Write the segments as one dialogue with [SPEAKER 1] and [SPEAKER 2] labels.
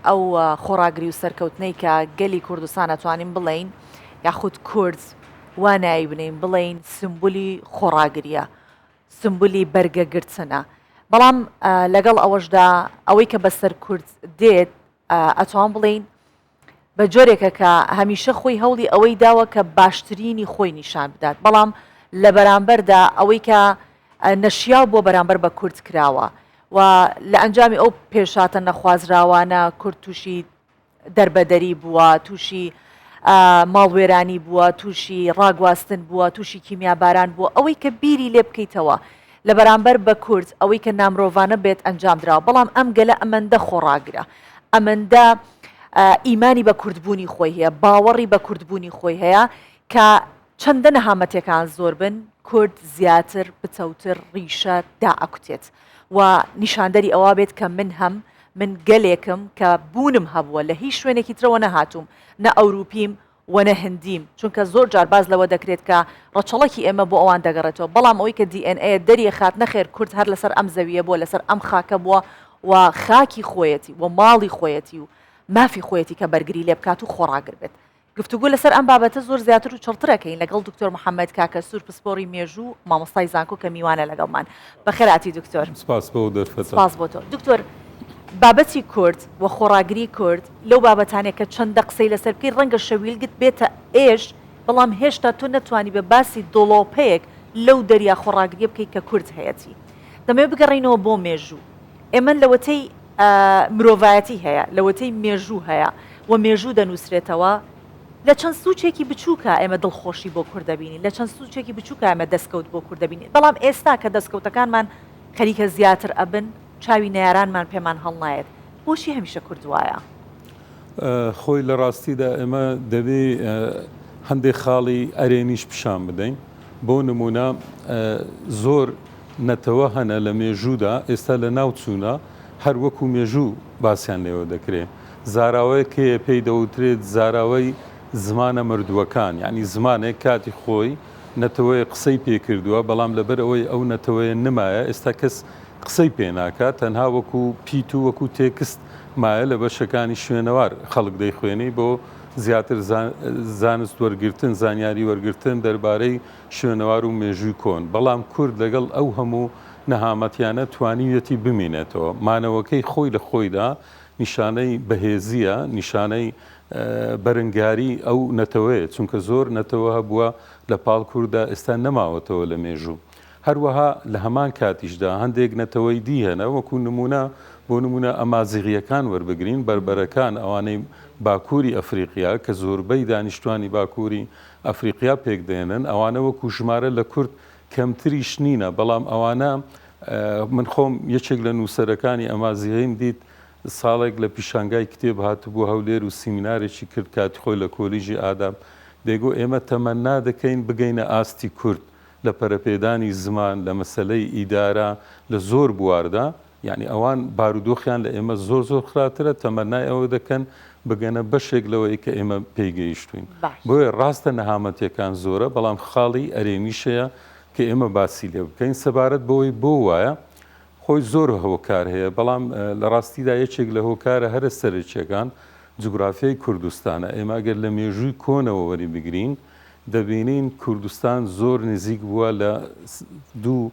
[SPEAKER 1] ئەو خۆڕاگری و سەرکەوتنەی کە گەلی کوردستان ئەتوانین بڵێین یاخود کورد وا ناوی بنێین بڵێین سمبولی خۆڕاگریە سمبولی بەرگەگرتنە بەڵام لەگەڵ ئەوەشدا ئەوەی کە بەسەر کورد دێت ئەتوان بڵێین بە جۆرێکە کە هەمیشە خۆی هەوڵی ئەوەی داوە کە باشترینی خۆی نیشان بدات بەڵام لە بەرامبەردا ئەوەی کە نەشیاو بۆ بەرامبەر بە کورد کراوە و لە ئەنجامی ئەو پێشهاتە نەخوازراوانە کورد تووشی دەربەدەری بووە، تووشی ماڵوێرانی بووە، تووشی ڕاگواستن بووە، تووشی کیمیاباران بووە، ئەوەی کە بیری لێ بکەیتەوە لە بەرامبەر بە کورد ئەوەی کە نامرۆڤانە بێت ئەنجام دراوە، بەڵام ئەم گەلە ئەمەندە خۆڕاگرە، ئەمەندە ئیمانی بە کوردبوونی خۆی هەیە، باوەڕی بە کوردبوونی خۆی هەیە کە چەندە نەهامەتیەکان زۆر بن کورد زیاتر پتەوتر ڕیشە دائەکوتێت و نیشاندەری ئەوە بێت کە من هەم، من گەلێکم کە بوونم هەبووە لە هیچ شوێنێکی ترەوە نەهاتووم نە ئەوروپیم و نە هندیم چونکە زۆر جار باس لەوە دەکرێت کە ڕەچەڵەکی ئێمە بۆ ئەوان دەگەڕێتەوە بەڵام ئەوەی کە دی ئێن ئەیە دەریەخات نەخێر کورد هەر لەسەر ئەم زەویە بووە لەسەر ئەم خاکە بووە و خاکی خۆیەتی و ماڵی خۆیەتی و مافی خۆیەتی کە بەرگری لێ بکات و خۆڕاگر بێت گفتوگۆ لەسەر ئەم بابەتە زۆر زیاتر و چڕتر ئەکەین لەگەڵ دکتۆر محەمەد کاکەسوور پسپۆڕی مێژوو و مامۆستای زانکۆ کە میوانە لەگەڵمان. بەخێرهاتی دکتۆر. سپاس بۆ ئەو دەرفەتە.
[SPEAKER 2] سپاس بۆ تۆ.
[SPEAKER 1] دکتۆر، بابەتی کورد و خۆڕاگری کورد لەو بابەتانەیە کە چەندە قسەی لەسەر بکەی ڕەنگە شەویلگت بێتە ئێش، بەڵام هێشتا تۆ نەتوانیبە باسی دۆڵۆپەیەک لەو دەریا خۆڕاگرییە بکەی کە کورد هەیەتی. دەمەوێت بگەڕێینەوە بۆ مێژوو. ئێمە لەوەتەی مرۆڤایەتی هەیە، لەوەتەی مێژوو هەیە و مێژوو دەنووسرێتەوە، لە چەند سووچێکی بچووکا ئێمە دڵخۆشی بۆ کورد دەبینین، لە چەند سووچێکی بچووکا ئێمە دەسکەوت بۆ کورد دەبینین، بەڵام ئێستا کە دەسکەوتەکانمان خەریکە زیاتر ئەبن، چاوی نەیارانمان پێمان هەڵنایەت، بۆچی هەمیشە کورد وایە؟
[SPEAKER 2] خۆی لە ڕاستیدا ئێمە دەبێ هەندێ خاڵی ئەرێنیش پیشان بدەین، بۆ نموونە زۆر. نەتەوە هەنە لە مێژوودا ئێستا لە ناو چوونە هەر وەکو مێژوو باسیان لێوە دەکرێ زاراوەیەک هەیە پێی دەوترێت زاراوەی زمانە مردووەکان یانی زمانێک کاتی خۆی نەتەوەیەک قسەی پێ کردووە بەڵام لەبەر ئەوەی ئەو نەتەوەیە نمایە ئێستا کەس قسەی پێ ناکات تەنها وەکو پیت و وەکو تێکست مایە لە بەشەکانی شوێنەوار خەڵک دەیخوێنی بۆ زیاتر زانست وەرگرتن زانیاری وەرگرتن دەربارەی شوێنەوار و مێژووی کۆن، بەڵام کورد لەگەڵ ئەو هەموو نەهامەتیانە توانیویەتی بمینێتەوە. مانەوەکەی خۆی لە خۆیدا نیشانەی بەهێزییە، نیشانەی بەرنگاریی ئەو نەتەوەیە، چونکە زۆر نەتەوە هەبووە لە پاڵ کورددا ئێستا نەماوەتەوە لە مێژوو. هەروەها لە هەمان کاتیشدا هەندێک نەتەوەی دی هەنە، وەکوو نموونە، بۆ نموونە ئەمازیغییەکان وەربگرین، بەربەرەکان، ئەوانەی باکووری ئەفریقیا، کە زۆربەی دانیشتووانی باکووری ئەفریقیا پێک دێنن ئەوانە وەکو ژمارە لە کورد کەمتریش نینە بەڵام ئەوانە من خۆم یەکێک لە نووسەرەکانی ئەمازیغیم دیت ساڵێک لە پیشانگای کتێب هاتبوو هەولێر و سیمینارێکی کرد کاتی خۆی لە کۆلیژی ئاداب دەیگو ئێمە تەمەنا دەکەین بگەینە ئاستی کورد لە پەرەپێدانی زمان لە مەسەلەی ئیدارە لە زۆر بواردا یانی ئەوان بارودۆخیان لە ئێمە زۆر زۆر خراپترە تەمەنای ئەوە دەکەن بگەنە بەشێک لەوەی کە ئێمە پێی گەیشتوین بۆیە ڕاستە نەهامەتیەکان زۆرە بەڵام خاڵی ئەرێنیشەیە کە ئێمە باسی لێ بکەین سەبارەت بەوەی بۆ وایە خۆی زۆر هۆکار هەیە بەڵام لە ڕاستیدا یەکێک لە هۆکارە هەرە سەرەکیەکان جوگرافیای کوردستانە ئێمە ئەگەر لە مێژووی کۆنەوە وەری بگرین دەبینین کوردستان زۆر نزیک بووە لە دوو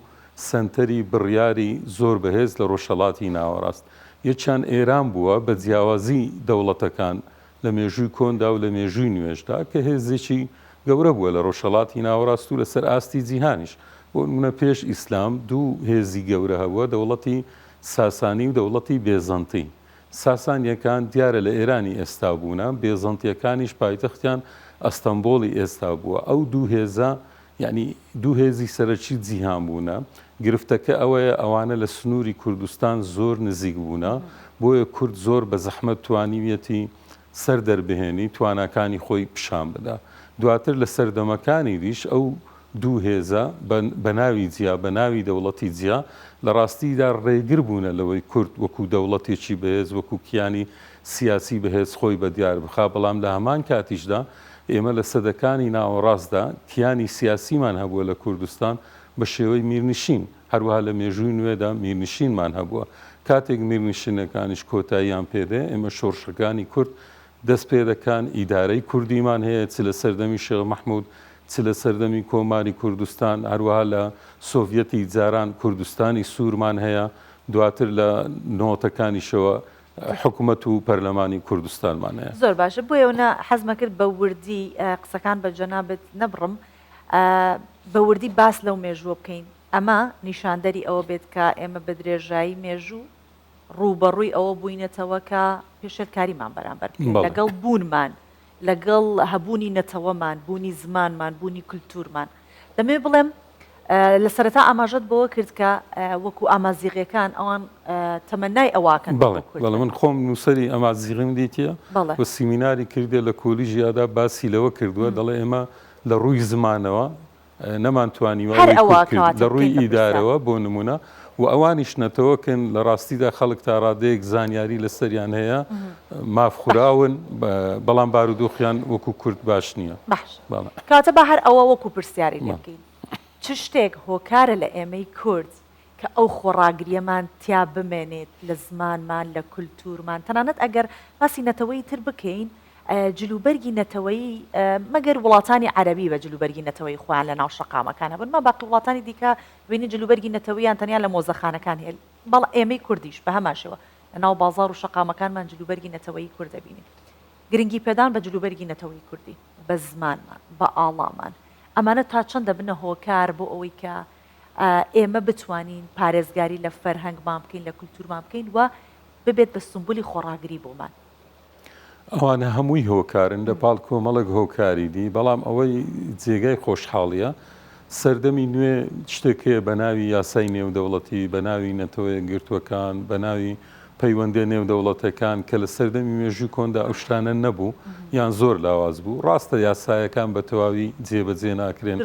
[SPEAKER 2] سەنتەری بڕیاری زۆر بەهێز لە ڕۆژهەڵاتی ناوەڕاست، یەکیان ئێران بووە، بە جیاوازی دەوڵەتەکان لە مێژووی کۆندا و لە مێژووی نوێشدا، کە هێزێکی گەورە بووە لە ڕۆژهەڵاتی ناوەڕاست و لەسەر ئاستی جیهانیش. بۆ نموونە پێش ئیسلام دوو هێزی گەورە هەبووە، دەوڵەتی ساسانی و دەوڵەتی بێزەنتی. ساسانییەکان دیارە لە ئێرانی ئێستا بوونە، بێزەنتییەکانیش پایتەختیان ئەستەنبۆڵی ئێستا بووە. ئەو دوو هێزە یانی دوو هێزی سەرەکی جیهان بوونە، گرفتەکە ئەوەیە ئەوانە لە سنووری کوردستان زۆر نزیک بوونە، بۆیە کورد زۆر بە زەحمەت توانیویەتی سەر دەربهێنی تواناکانی خۆی پیشان بدا، دواتر لە سەردەمەکانیدیش ئەو دوو هێزە بە ناوی جیا بە ناوی دەوڵەتی جیا لە ڕاستیدا ڕێگر بوونە لەوەی کورد وەکوو دەوڵەتێکی بەهێز وەکوو کیانی سیاسی بەهێز خۆی بە دیار بخا، بەڵام لە هەمان کاتیشدا ئێمە لە سەدەکانی ناوەڕاستدا کیانی سیاسیمان هەبووە لە کوردستان بە شێوەی میرنشین، هەروەها لە مێژووی نوێدا میرنشینمان هەبووە، کاتێک میرنشینەکانیش کۆتاییان پێ دێ، ئێمە شۆڕشەکانی کورد دەست پێ دەکان، ئیدارەی کوردیمان هەیە، چ لە سەردەمی شێخ مەحموود، چ لە سەردەمی کۆماری کوردستان، هەروەها لە سۆڤیەتی جاران کوردستانی سوورمان هەیە، دواتر لە نۆتەکانیشەوە حکومەت و پەرلەمانی کوردستانمان هەیە. زۆر باشە بۆیەوە نە
[SPEAKER 1] حەزمەکرد بە وردی قسەکان بە جەنابت نەبڕم بە وردی باس لەو مێژووە بکەین ئەمە نیشاندەری ئەوە بێت کە ئێمە بە درێژایی مێژوو ڕووبەڕووی ئەوە بووینەتەوە کە پێشێلکاریمان بەرامبەر بکرێت لەگەڵ بوونمان لەگەڵ هەبوونی نەتەوەمان، بوونی زمانمان، بوونی کولتوورمان. دەمەوێت بڵێم لە سەرەتا ئاماژەت بەوە کرد کە وەکوو ئامازیغییەکان ئەوان تەمەنای ئەواکەن بە کورد. بەڵێ، بەڵێ من خۆم
[SPEAKER 2] نووسەری ئامازیغیم دیتییە و سیمیناری کردییە لە کۆلیژیادا باسی لەوە کردووە، دەڵێ ئێمە لە ڕووی زمانەوە نەمان توانیوە ئەوەی کورد کرد لە ڕووی ئیدارەوە بۆ نمونە و ئەوانیش نەتەوەکن لە ڕاستیدا خەڵک تا ڕادەیەک زانیاری لە سەریان هەیە ماف خوراون بەڵام بارودۆخیان وەکو کورد باش نییە باش کاتە بە
[SPEAKER 1] هەر ئەوە وەکو پرسیاری لێ بکەین چ شتێک هۆکارە لە ئێمەی کورد کە ئەو خۆڕاگرییەمان تیا بمێنێت لە زمانمان، لە کولتوورمان، تەنانەت ئەگەر باسی نەتەوەی تر بکەین، جلوبەرگی نەتەوەیی، مەگەر وڵاتانی عەرەبی بە جلوبەرگی نەتەوەیی خۆیان لە ناو شەقامەکان هەبن، ئەمما باقی وڵاتانی دیکە دەبینین جلوبەرگی نەتەوەییان تەنیا لە مۆزەخانەکان هەیە، بەڵ ئێمەی کوردیش بە هەمان شێوە لە ناو بازاڕ و شەقامەکانمان جلوبەرگی نەتەوەیی کورد دەبینین. گرنگی پێدان بە جلوبەرگی نەتەوەی کوردی، بە زمانمان، بە ئاڵامان، ئەمانە تا چەند دەبنە هۆکار بۆ ئەوەی کە ئێمە بتوانین پارێزگاری لە فەرهەنگمان بکەین، لە کولتوورمان بکەین و ببێت بە سومبولی خۆڕاگری بۆمان.
[SPEAKER 2] ئەوانە هەمووی هۆکارن لە پاڵ کۆمەڵێک هۆکاری دی، بەڵام ئەوەی جێگای خۆشحاڵییە سەردەمی نوێ شتێک هەیە بە ناوی یاسای نێودەوڵەتی، بە ناوی نەتەوە یەکگرتووەکان، بە ناوی پەیوەندیە نێودەوڵەتەکان کە لە سەردەمی مێژووی کۆندا ئەو شتانە نەبوو یان زۆر لاواز بوو، ڕاستە یاسایەکان بە تەواوی جێبەجێ ناکرێن،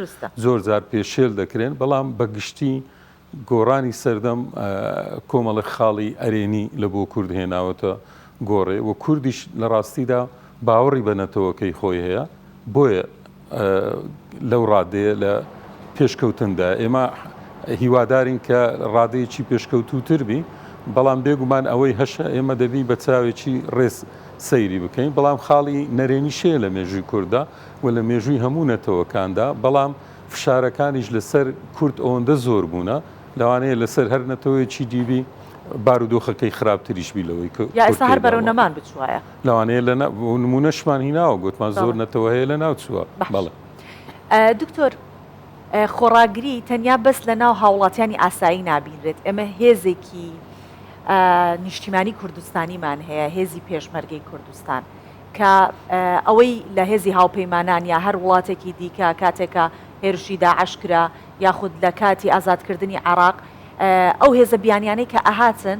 [SPEAKER 2] زۆر جار پێشێل دەکرێن، بەڵام بە گشتی گۆڕانی سەردەم کۆمەڵێک خاڵی ئەرێنی لە بۆ کورد هێناوەتە گۆڕێ و کوردیش لە ڕاستیدا باوەڕی بە نەتەوەکەی خۆی هەیە، بۆیە. لەو ڕادەیە لە پێشکەوتندایە، ئێمە هیوادارین کە ڕادەیەکی پێشکەوتووتر بین، بەڵام بێگومان ئەوەی هەشە ئێمە دەبی بە چاوێکی ڕێز سەیری بکەین، بەڵام خاڵی نەرێنیش هەیە لە مێژووی کورددا و لە مێژووی هەموو نەتەوەکاندا، بەڵام فشارەکانیش لەسەر کورد ئەوەندە زۆر بوونە لەوانەیە لەسەر هەر نەتەوەیەکی دی بی بارودۆخەکەی خراپتریش بی لەوەی کە کورد تێیدا
[SPEAKER 1] بووە. لەوانەیە لە
[SPEAKER 2] نمونەشمان هیناوە گوتمان زۆر نەتەوە هەیە لە ناو چووە بەڵێ دکتۆر
[SPEAKER 1] خۆڕاگری تەنیا بەس لە ناو هاوڵاتیانی ئاسایی نابینرێت ئێمە هێزێکی نیشتیمانی کوردستانیمان هەیە هێزی پێشمەرگەی کوردستان کە ئەوەی لە هێزی هاوپەیمانان یا هەر وڵاتێکی دیکە کاتێکە هێرشی داعشکرا یاخود لە کاتی ئازادکردنی عراق ئەو هێزە بیانیانەی کە ئەهاتن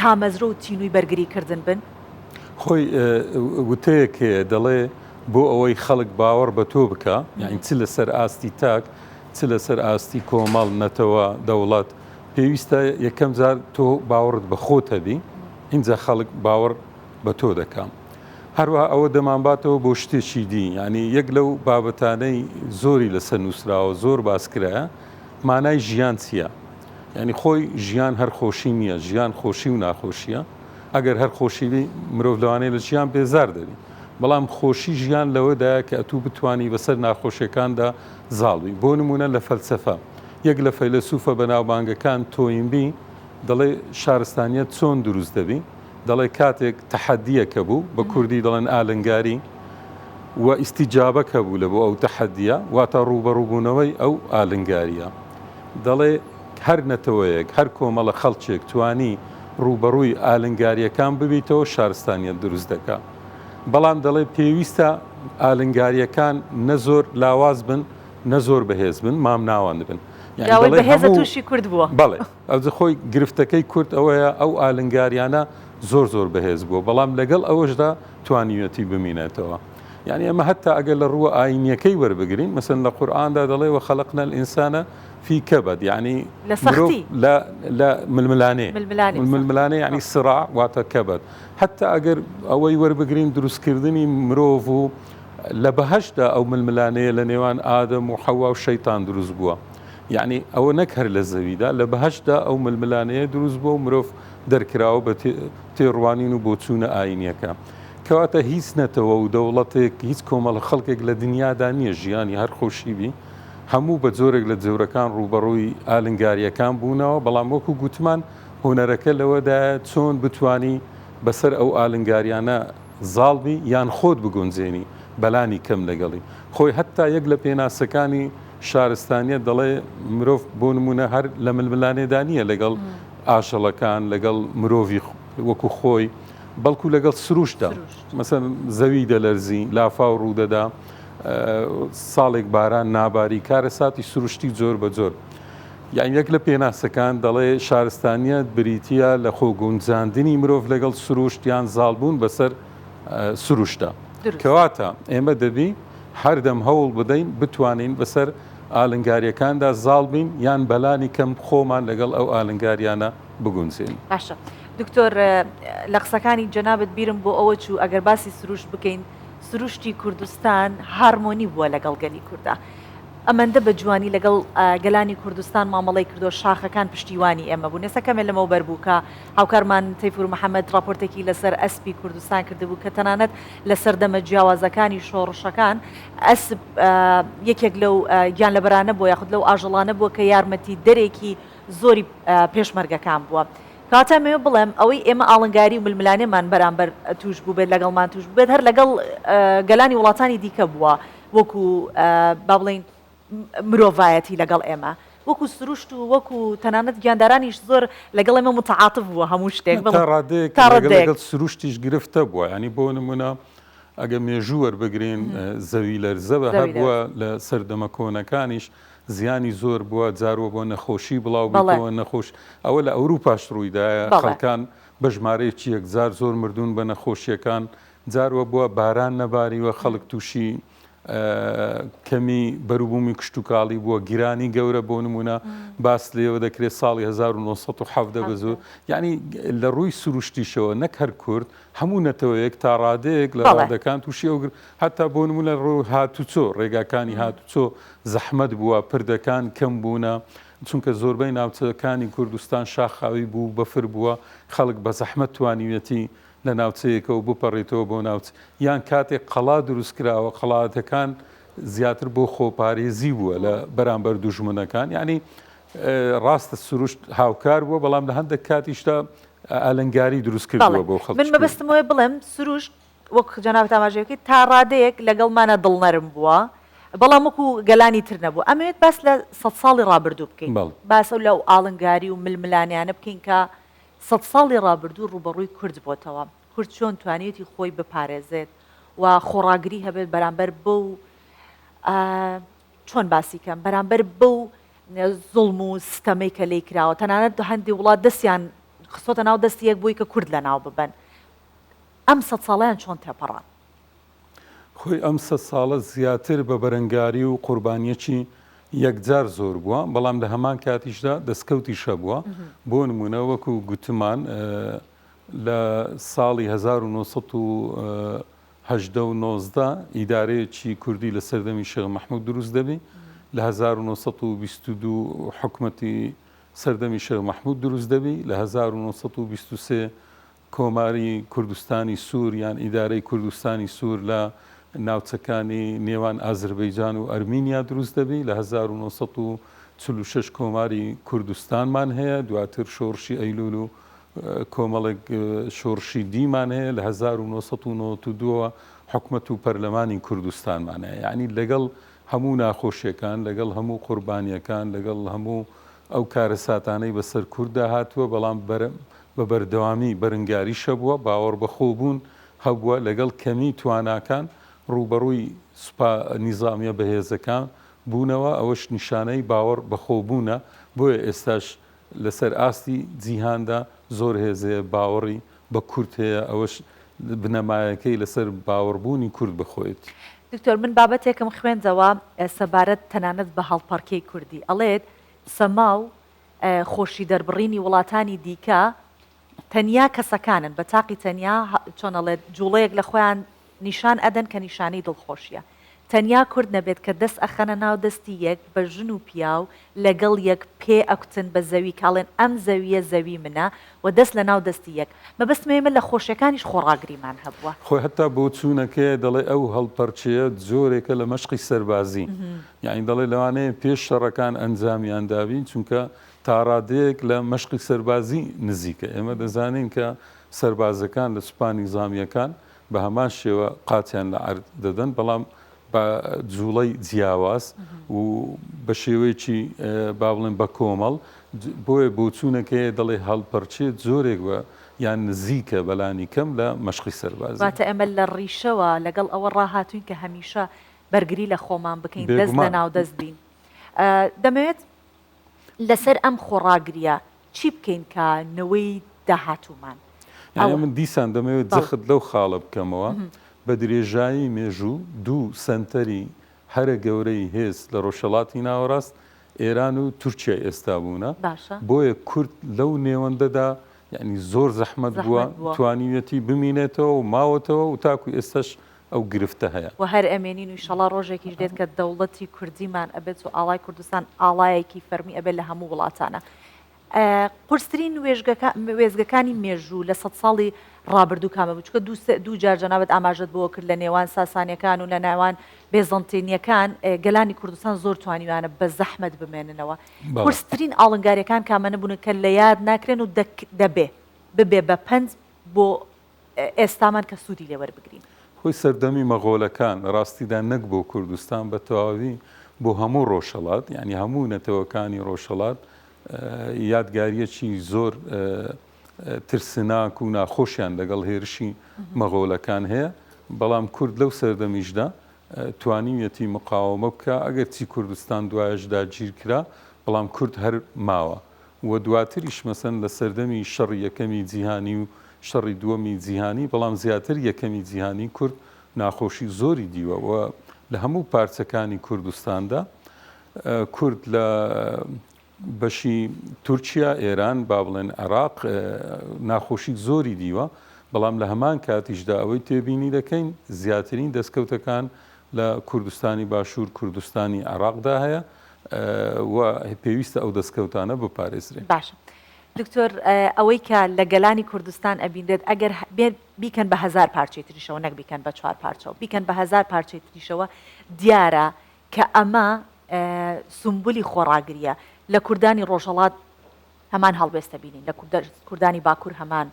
[SPEAKER 1] تامەزرۆ و تینووی بەرگری کردن بن؟ خۆی
[SPEAKER 2] وتەیەک هەیە دەڵێ بۆ ئەوەی خەڵک باوەڕ بە تۆ بکە یعنی چ لەسەر ئاستی تاک چ لەسەر ئاستی کۆمەڵ نەتەوە دەوڵەت پێویستە یەکەم جار تۆ باوەڕت بە خۆت هەبی اینجا خەڵک باوەڕ بە تۆ دەکەم هەروە ئەوە دەمانباتەوە بۆ شتێکی دی ینی یەک لەو بابەتانەی زۆری لەسەر نووسراوە زۆر باسکرایە مانای ژیان چییە؟ یانی خۆی ژیان هەر خۆشی نییە، ژیان خۆشی و ناخۆشییە، ئەگەر هەر خۆشی بی مرۆڤ لەوانەیە لە ژیان بێزار دەبی، بەڵام خۆشی ژیان لەوەدایە کە ئەتوو بتوانی بەسەر ناخۆشیەکاندا زاڵ بی، بۆ نموونە لە فەلسەفە، یەک لە فەیلەسوفە بەناوبانگەکان تۆینبی دەڵێ شارستانیەت چۆن دروست دەبی؟ دەڵێ کاتێک تەحەدیەک هەبوو، بە کوردی دەڵێن ئالنگاری، و ئیستیجابەک هەبوو لەبۆ ئەو تەحەدیە، واتە ڕووبەڕووبوونەوەی ئەو ئالنگاریە. دەڵێ هەر نەتەوەیەک، هەر کۆمەڵە خەڵکێک توانی ڕووبەڕووی ئالنگارییەکان ببیتەوە شارستانییەت دروست دەکا. بەڵام دەڵێ پێویستە ئالنگارییەکان نە زۆر لاواز بن نە زۆر بەهێز بن، مامناوەند بن. یانی دەڵێ هەموو. بەهێزە تووشی
[SPEAKER 1] کورد
[SPEAKER 2] بووە. بەڵێ. ئەوجە
[SPEAKER 1] خۆی
[SPEAKER 2] گرفتەکەی کورد ئەوەیە ئەو
[SPEAKER 1] ئالنگارییانە
[SPEAKER 2] زۆر زۆر بەهێز بووە، بەڵام لەگەڵ ئەوەشدا توانیویەتی بمینێتەوە. یانی ئەمە هەتا ئەگەر لە ڕووە ئاینیەکەی وەربگرین مەسەن لە قورئاندا دەڵێ وە خەلقنا الانسان فی کبد یعنی لە سەختی لە ململانێ ململانێ یعنی سرا واتە کەبەت هەتا ئەگەر ئەوەی وەربگرین دروستکردنی مرۆڤ و لە بەهشدا ئەو ململانەیە لە نێوان ئادەم و حەوا و شەیتان دروست بووە یعنی ئەوە نەک هەر لە زەویدا لە بەهشدا ئەو ململانەیە دروست بووە و مرۆڤ دەرکراوە بە تێڕوانین و بۆچوونە ئاینیەکە. کەواتە هیچ نەتەوە و دەوڵەتێک، هیچ کۆمەڵە خەڵکێک لە دنیادا نییە ژیانی هەر خۆشی بی، هەموو بە جۆرێک لە جۆرەکان ڕووبەڕووی ئالنگارییەکان بوونەوە، بەڵام وەکو گوتمان هونەرەکە لەوەدایە چۆن بتوانی بەسەر ئەو ئالنگارییانە زاڵ بی یان خۆت بگونجێنی بەلانی کەم لەگەڵی خۆی، هەتا یەک لە پێناسەکانی شارستانییەت دەڵێ مرۆڤ بۆ نموونە هەر لە ململانێدا نییە لەگەڵ ئاژەڵەکان، لەگەڵ مرۆڤی وەکو خۆی، بەڵکو لەگەڵ سروشتدا، مەسەلەن زەوی دەلەرزی، لافاو ڕوودەدا، ساڵێک باران ناباری، کارەساتی سروشتی جۆر بە جۆر. یان یەک لە پێناسەکان دەڵێ شارستانیەت بریتیە لە خۆ گونجاندنی مرۆڤ لەگەڵ سروشت یان زاڵبوون بەسەر سروشتدا. کەواتە ئێمە دەبی هەردەم هەوڵ بدەین بتوانین بەسەر ئالنگاریەکاندا زاڵ بین یان بەلانی کەم خۆمان لەگەڵ ئەو ئالنگاریانە بگونجێنین. باشە.
[SPEAKER 1] دکتۆر لە قسەکانی جەنابت بیرم بۆ ئەوە چوو ئەگەر باسی سروشت بکەین سروشتی کوردستان هارمۆنی بووە لەگەڵ گەلی کوردە ئەمەندە بە جوانی لەگەڵ گەلانی کوردستان مامەڵی کردو شاخەکان پشتیوانی ئێمە بوو نێسە کەمێ لەمەو بەربووکە هاوکارمان تەیفور محەممەد راپۆرتێکی لەسەر ئەسپی کوردستان کردبوو کە تەنانەت لە سەردەمە جیاوازەکانی شۆڕشەکان ئەسب یەکێک لەو گیان لەبەرانە بۆ یاخود لەو ئاژەڵانە بووە کە یارمەتی دەرێکی زۆری پێشمەرگەکان بووە. کەواتە مەوێ بڵێم ئەوەی ئێمە ئاڵنگاری و ململانێمان بەرامبەر توش بووبێت لەگەڵمان توش بووبێت هەر لەگەڵ گەلانی وڵاتانی دیکە بووە وەکو با بڵین مرۆڤایەتی لەگەڵ ئێمە وەکو سروشت و وەکو تەنانەت گیاندارانیش زۆر لەگەڵ ئێمە متعاتف بووە هەموو شتێک تا ڕادەیەک تا ڕادەیەک. ڕادەیەک. لەگەڵ
[SPEAKER 2] سروشتیش گرفتە بووە یعنی بۆ نمونە ئەگە مێژوو وەربگرین زەوی لەرزە بە زەوی هەبووە لە سەردەمە کۆنەکانیش زیانی زۆر بوە جار وەبۆ نەخۆشی بڵاو بڵێ. بیتەوە نەخۆش ئەوە لە ئەوروپاش ڕویدایە بەڵێ. خەڵکان بە ژمارەیەکی یەکجار زۆر مردون بە نەخۆشیەکان جار وەبوە باران نەباریوە خەڵک توشی کەمی بەروبومی کشتوکاڵی بوە گرانی گەورە بۆ نمونە باس لێوە دەکرێت ساڵی هەزار و نۆ سەد و حەڤدە بە زۆر حەڤدە. یانی لە ڕوی سروشتیشەوە نەک هەر کورد هەموو نەتەوەیەک تا ڕادەیەک لە بەڵێ. ڕادەکان تووشی ئەو گر هەتا بۆ نموونە ڕۆ هاتوچۆ، ڕێگاکانی هاتوچۆ زەحمەت بووە، پردەکان کەم بوونە، چونکە زۆربەی ناوچەکانی کوردستان شاخاوی بوو، بەفر بووە، خەڵک بە زەحمەت توانیویەتی لە ناوچەیەکەوە بپەڕێتەوە بۆ ناوچ یان کاتێک قەڵا دروست کراوە، قەڵاتەکان زیاتر بۆ خۆپارێزی بووە لە بەرامبەر دوژمنەکان، یانی ڕاستە سروشت هاوکار بووە بەڵام لە هەندێک کاتیشدا ئالنگاری دروست کردووە بۆ خەڵک من مەبەستم وێ بڵێم
[SPEAKER 1] سروشت وەک جەناب تاماژێکی تا ڕادەیەک لەگەڵمانە دڵنەرم بووە بەڵام وەکو گەلانی تر نەبوو ئەمەوێت باس لە سە ساڵی ڕابردوو بکەین باسە لە و ئاڵنگاری و ململانیانە بکەین کە سە ساڵی ڕابردوو ڕوبەڕووی کورد بۆتەوە کورد چۆن توانێتی خۆی بپارێزێت و خۆڕاگری هەبێت بەرامبەر بەو چۆن باسی کەم بەرامبەر بەو زوڵم و ستەمەی کە لێی کراوە تەنانەت هەندی وڵات دەستیان خستۆتە ناو دەستی یەک بۆی کە کورد لە ناو ببەن ئەم سەد ساڵیان چۆن تێپەڕان.
[SPEAKER 2] خۆی ئەم سەد ساڵە زیاتر بە بەرەنگاری و قوربانیەکی یەکجار زۆر بووە بەڵام لە هەمان کاتیشدا دەستکەوتی شەبووە بۆ نمونە وەکو گوتمان لە ساڵی 1970 هەژدە و نۆزدە ئیدارەیەکی کوردی لە سەردەمی شێخ مەحموود دروست دەبی، لە هەزار و نۆ سەد و بیست و دوو حکومەتی سەردەمی شێخ مەحموود دروست دەبی، لە هەزار و نۆ سەد و بیست و سێ کۆماری کوردستانی سوور یان ئیدارەی کوردستانی سوور لە ناوچەکانی نێوان ئازربەیجان و ئەرمینیا دروست دەبی، لە هەزار و نۆ سەد و چل و شەش کۆماری کوردستانمان هەیە، دواتر شۆڕشی ئەیلوول و کۆمەڵێک شۆڕشی دیمان هەیە، لە هەزار و نۆ سەد و نەوەد و دوو ەوە حکومەت و پەرلەمانی کوردستانمان هەیە، یەعنی لەگەڵ هەموو ناخۆشیەکان، لەگەڵ هەموو قوربانیەکان، لەگەڵ هەموو ئەو کارەساتانەی بەسەر کورددا هاتووە، بەڵام بە بەردەوامی بەرنگاریش هەبووە، باوەڕ بە خۆبوون هەبووە، لەگەڵ کەمی تواناکان ڕووبەڕووی سوپا نیزامیە بەهێزەکان بوونەوە، ئەوەش نیشانەی باوەڕ بەخۆبوونە، بۆیە ئێستاش لەسەر ئاستی جیهاندا زۆر هێز هەیە باوەڕی بە کورد هەیە ئەوەش بنەمایەکەی لەسەر باوەڕبوونی کورد بە خۆیەتی. دکتۆر من
[SPEAKER 1] بابەتێکم خوێندەوە سەبارەت تەنانەت بە هەڵپەڕکێی کوردی ئەڵێت سەما و خۆشی دەربڕینی وڵاتانی دیکە تەنیا کەسەکانن بە تاقی تەنیا چۆن ئەڵێت جوڵەیەک لە خۆیان نیشان ئەدەن کە نیشانەی دڵخۆشیە تەنیا کورد نەبێت کە دەست ئەخەنە ناو دەستی یەک بە ژن و پیاو لەگەڵ یەک پێ ئەکوتن بە زەوی کە ئەڵێن ئەم زەویە زەوی منە و دەست لە ناو دەستی یەک مەبەستمە ئێمە لە خۆشیەکانیش خۆڕاگریمان هەبووە. خۆی حەتا
[SPEAKER 2] بۆچوونەکەی دەڵێ ئەو هەڵپەرچەیە جۆرێکە لە مەشقی سەربازی یانی دەڵێ لەوانەیە پێش شەڕەکان ئەنجامیان دابین چونکە تاڕادەیەک لە مەشقی سەربازی نزیکە، ئێمە دەزانین کە سەربازەکان لە سوپا نیزامییەکان بە هەمان شێوە قاچیان لە عەرد دەدەن، بەڵام بە جووڵەی جیاواز و بە شێوەیەکی با بڵێن بە کۆمەڵ، بۆیە بۆچوونێک هەیە دەڵێ هەڵپەرچێ جۆرێک بە یان نزیکە بە لانی کەم لە مەشقی سەربازی. واتە ئێمە لە
[SPEAKER 1] ڕیشەوە لەگەڵ ئەوە ڕاهاتووین کە هەمیشە بەرگری لە خۆمان بکەین، دەست لەناو دەست بین. دەمەوێت. لەسەر ئەم خۆڕاگریە چی بکەین کە نەوەی داهاتوومان یانە من
[SPEAKER 2] دیسان دەمەوێت جەخت لەو خاڵە بکەمەوە بە درێژایی مێژوو دوو سەنتەری هەرە گەورەی هێز لە ڕۆژهەڵاتی ناوەڕاست ئێران و تورکیای ئێستا بوونە بۆیە کورد لەو نێوەندەدا یانی زۆر زەحمەت بووە توانیویەتی بمینێتەوە و ماوەتەوە و تاکو ئێستاش ئەو گرفتە هەیە. وە هەر ئەمێنین و ئیشەڵا
[SPEAKER 1] ڕۆژێکیش دێت کە دەوڵەتی کوردیمان ئەبێت و ئاڵای کوردستان ئاڵایەکی فەرمی ئەبێت لە هەموو وڵاتانا. قورسترین وێزگەکانی مێژوو لە سەد ساڵی ڕابردوو کامە بوو؟ چونکە دوو جار جەنابت ئاماژەت بەوە کرد لە نێوان ساسانیەکان و لە نێوان بێزەنتینیەکان گەلانی کوردستان زۆر توانیویانە بە زەحمەت بمێننەوە. قورسترین ئاڵنگاریەکان کامەنە بوون کە لە یاد ناکرێن و دەبێ ببێ بە پەند بۆ ئێستامان کە سوودی لێ وەربگرین. هۆی سەردەمی
[SPEAKER 2] مەغۆلەکان، لە ڕاستیدا نەک بۆ کوردستان بە تەواوی بۆ هەموو ڕۆژهەڵات، یانی هەموو نەتەوەکانی ڕۆژهەڵات یادگارییەکی زۆر ترسناک و ناخۆشیان لەگەڵ هێرشی مەغۆلەکان هەیە، بەڵام کورد لەو سەردەمیشدا توانیویەتی مقاوەمە بکا، ئەگەرچی کوردستان دوایەش داگیرکرا، بەڵام کورد هەر ماوە. و دواتریش مەسەن لە سەردەمی شەڕی یەکەمی جیهانی و شەڕی دووەمی جیهانی بەڵام زیاتر یەکەمی جیهانی کورد ناخۆشی زۆری دیوە و لە هەموو پارچەکانی کوردستاندا کورد لە بەشی تورکیا ئێران با بڵێن عێراق ناخۆشی زۆری دیوە بەڵام لە هەمان کاتیشدا ئەوەی تێبینی دەکەین زیاترین دەستکەوتەکان لە کوردستانی باشوور کوردستانی عێراقدا هەیە و پێویستە ئەو دەستکەوتانە بپارێزرێن. باشە
[SPEAKER 1] دکتۆر ئەوەی کە لە گەلانی کوردستان ئەبینرێت ئەگەر بێت بیکەن بە هەزار پارچەی تریشەوە نەک بیکەن بە چوار پارچەوە بیکەن بە هەزار پارچەی تریشەوە دیارە کە ئەمە سومبولی خۆڕاگریە لە کوردانی ڕۆژهەڵات هەمان هەڵوێستە بینین لە کوردانی باکوور هەمان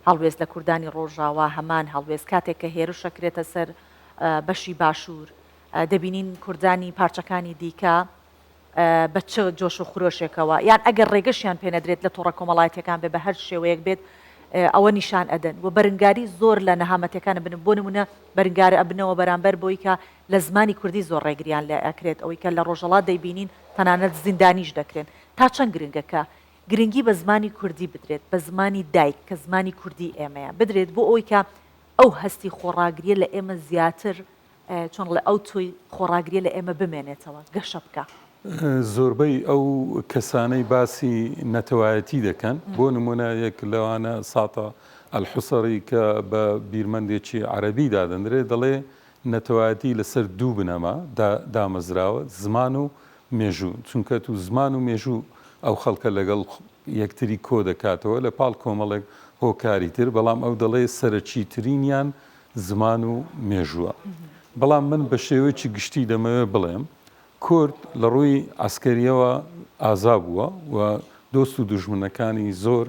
[SPEAKER 1] هەڵوێست لە کوردانی ڕۆژاوا هەمان هەڵوێست کاتێک کە هێرشەکرێتە سەر بەشی باشوور دەبینین کوردانی پارچەکانی دیکە بە چ جۆش و خرۆشێکەوە یان ئەگەر ڕێگەشیان پێنەدرێت لە تۆڕە کۆمەڵایەتیەکان بێ بە هەر شێوەیەک بێت ئەوە نیشان ئەدەن و بەرنگاری زۆر لە نەهامەتەکان بن بۆ نمونە بەرنگارە ئەبنەوە بەرامبەر بۆی کە لە زمانی کوردی زۆر ڕێگریان لە ئەکرێت ئەوەی کە لە ڕۆژەڵات دەیبینین تەنانەت زیندانیش دەکرێن تا چەند گرنگە کە گرنگی بە زمانی کوردی بدرێت بە زمانی دایک کە زمانی کوردی ئێمەیە بدرێت بۆ ئەوی کە ئەو هەستی خۆڕاگریە لە ئێمە زیاتر چۆن ڵێ ئەو تۆی خۆڕاگریە لە ئێمە بمێنێتەوە گەشە بکا. زۆربەی
[SPEAKER 2] ئەو کەسانەی باسی نەتەوایەتی دەکەن بۆ نمونە یەک لەوانە ساتا الحصری کە بە بیرمەندێکی عەرەبی دادەندرێ دەڵێ نەتەوایەتی لەسەر دوو بنەما دامەزراوە زمان و مێژوو چونکە تو زمان و مێژوو ئەو خەڵکە لەگەڵ یەکتری کۆدەکاتەوە لە پاڵ کۆمەڵێک هۆکاری تر بەڵام ئەو دەڵێ سەرەکیترینیان زمان و مێژووە. بەڵام من بە شێوەیەکی گشتی دەمەوێت بڵێم، کورد لە ڕووی عەسکەرییەوە ئازا بووە و دۆست و دوژمنەکانی زۆر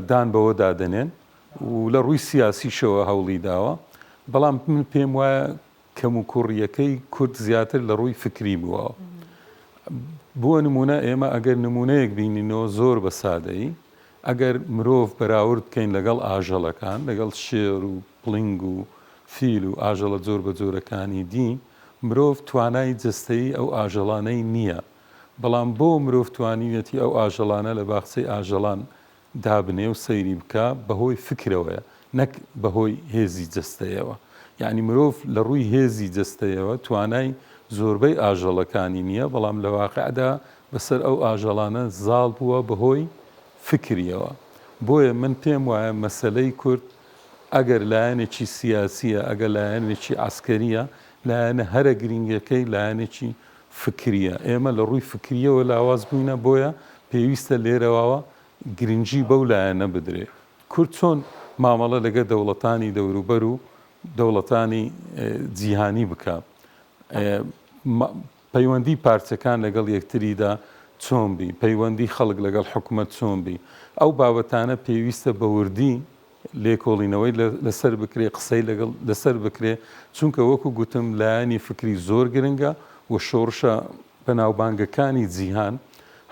[SPEAKER 2] دان بەوەدا دەنێن و لە ڕووی سیاسیشەوە هەوڵی داوە، بەڵام من پێم وایە، کەموکوڕیەکەی کورد زیاتر لە ڕووی فکری بووە. بۆ نموونە ئێمە ئەگەر نموونەیەک بینینەوە زۆر بە سادەیی، ئەگەر مرۆڤ بەراورد بکەین لەگەڵ ئاژەڵەکان، لەگەڵ شێر و پڵنگ و فیل و ئاژەڵە جۆر بە جۆرەکانی دی، مرۆڤ توانای جەستەیی ئەو ئاژەڵانەی نییە، بەڵام بۆ مرۆڤ توانیویەتی ئەو ئاژەڵانە لە باخچەی ئاژەڵان دابنێ و سەیری بکە بەهۆی فکرەوەیە نەک بەهۆی هێزی جەستەیەوە یانی مرۆڤ لە ڕووی هێزی جەستەیەوە توانای زۆربەی ئاژەڵەکانی نییە بەڵام لە واقعدا بەسەر ئەو ئاژەڵانە زاڵ بووە بەهۆی فکریەوە بۆیە من پێم وایە مەسەلەی کورد ئەگەر لایەنێکی سیاسیە ئەگەر لایەنێکی عسکەریە لایەنە هەرە گرنگەکەی لایەنێکی فکرییە. ئێمە لە ڕووی فکرییەوە لاواز بووینە، بۆیە پێویستە لێرەواوە گرنگی بەو لایەنە بدرێ کورد چۆن مامەڵە لەگەر دەوڵەتانی دەوروبەر و دەوڵەتانی جیهانی بکا، پەیوەندی پارچەکان لەگەڵ یەکتریدا چۆن بی، پەیوەندی خەڵک لەگەڵ حکومەت چۆن بی، ئەو بابەتانە پێویستە بە وردی لێکۆڵینەوەی لەسەر بکرێ، قسەی لەگەڵ لەسەر بکرێ، چونکە وەکو گوتم لایەنی فکری زۆر گرنگە و شۆڕشە بەناوبانگەکانی جیهان،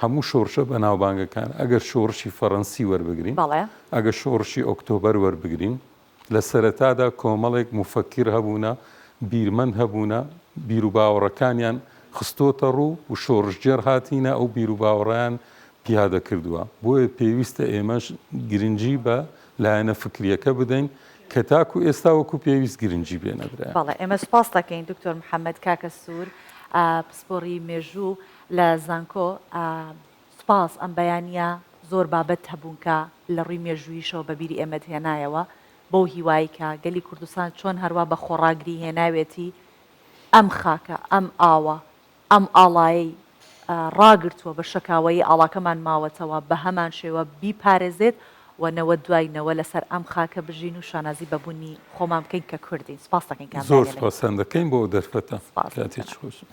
[SPEAKER 2] هەموو شۆڕشە بەناوبانگەکان، ئەگەر شۆڕشی فەرەنسی وەربگرین، بەڵێ. ئەگەر شۆڕشی ئۆکتۆبەر وەربگرین، لە سەرەتادا کۆمەڵێک موفەکیر هەبوونە، بیرمەند هەبوونە، بیروباوەڕەکانیان خستۆتەڕوو و شۆڕشگێڕ هاتینە، ئەو بیروباوەڕەیان پیادە کردووە، بۆیە پێویستە ئێمەش گرنگی بە لایەنە فکرییەکە بدەین کە تاکو ئێستا وەکو پێویست گرنگی پێ نەدرایە. بەڵێ ئێمە سوپاست
[SPEAKER 1] دەکەین دکتۆر محەمەد کاکە سوور پسپۆڕی مێژوو لە زانکۆ سوپاس ئەم بەیانییە زۆر بابەت هەبوون کە لە ڕووی مێژووییشەوە بە بیری ئێمەت هێنایەوە بەو هیوای کە گەلی کوردستان چۆن هەروا بە خۆڕاگری هێناوێتی ئەم خاکە ئەم ئاوە ئەم ئاڵایەی ڕاگرتووە بە شەکاوەیی ئاڵاکەمان ماوەتەوە بەهەمان شێوە بیپارێزێت و نەوە دوای نەوە لەسەر ئەم خاکە بژین و شانازی بە بونی خۆمان بکەین کە
[SPEAKER 2] کوردین
[SPEAKER 1] سپاس
[SPEAKER 2] دەکەین کە ئەم دانیە
[SPEAKER 1] لە زۆر
[SPEAKER 2] سپاستان دەکەین بۆ
[SPEAKER 1] ئەو
[SPEAKER 2] دەرفەتە
[SPEAKER 1] سپاس
[SPEAKER 2] کاتێکی
[SPEAKER 1] خۆشتان.